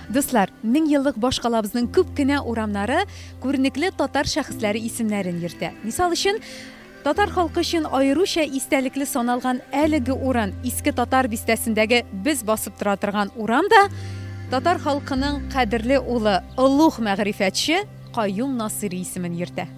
Дуслар, мең еллык башкалабызның күп кенә урамнары күренекле татар шәхесләре исемнәрен йөртә. Мисал өчен, Татар халкы өчен аеруча истәлекле саналган әлеге урын, Иске Татар бистәсендәге без басып тора торган урам да татар халкының кадерле улы, олуг мәгърифәтче Каюм Насыйри исемен йөртә.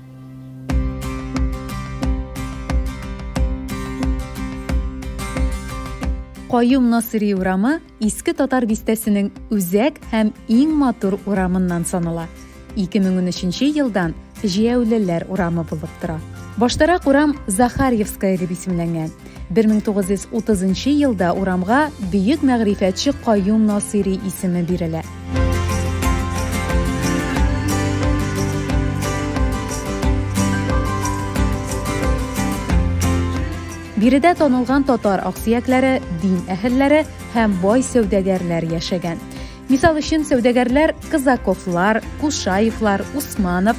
Каюм Насыйри урамы Иске Татар бистәсенең үзәк һәм иң матур урамыннан санала. 2013 елдан Җияүлеләр урамы булып тора. Баштарак урам Захарьевская дип исемләнгән. 1930 елда урамга бөек мәгърифәтче Каюм Насыйри исеме бирелә. Биредә танылган татар аксөякләре, дин әһелләре һәм бай сәүдәгәрләр яшәгән. Мисал өчен, сәүдәгәрләр Казаковлар, Кушаевлар, Усманов,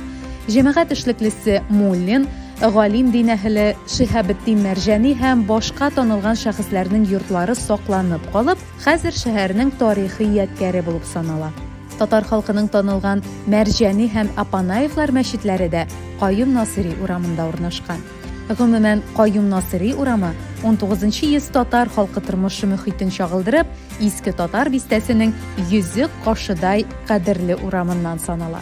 җәмәгать эшлеклесе Муллин, галим дин әһеле Шиһабетдин Мәрҗани һәм башка танылган шәхесләрнең йортлары сакланып калып, хәзер шәһәрнең тарихи ядкяре булып санала. Татар халкының танылган Мәрҗани һәм Апанаевлар мәчетләре дә Каюм Насыйри урамында урнашкан. Гомумән, Каюм Насыйри урамы, унтугызынчы йөз татар халкы тормышы мөхитен чагылдырып, Иске Татар бистәсенең йөзек кашыдай кадерле урамыннан санала.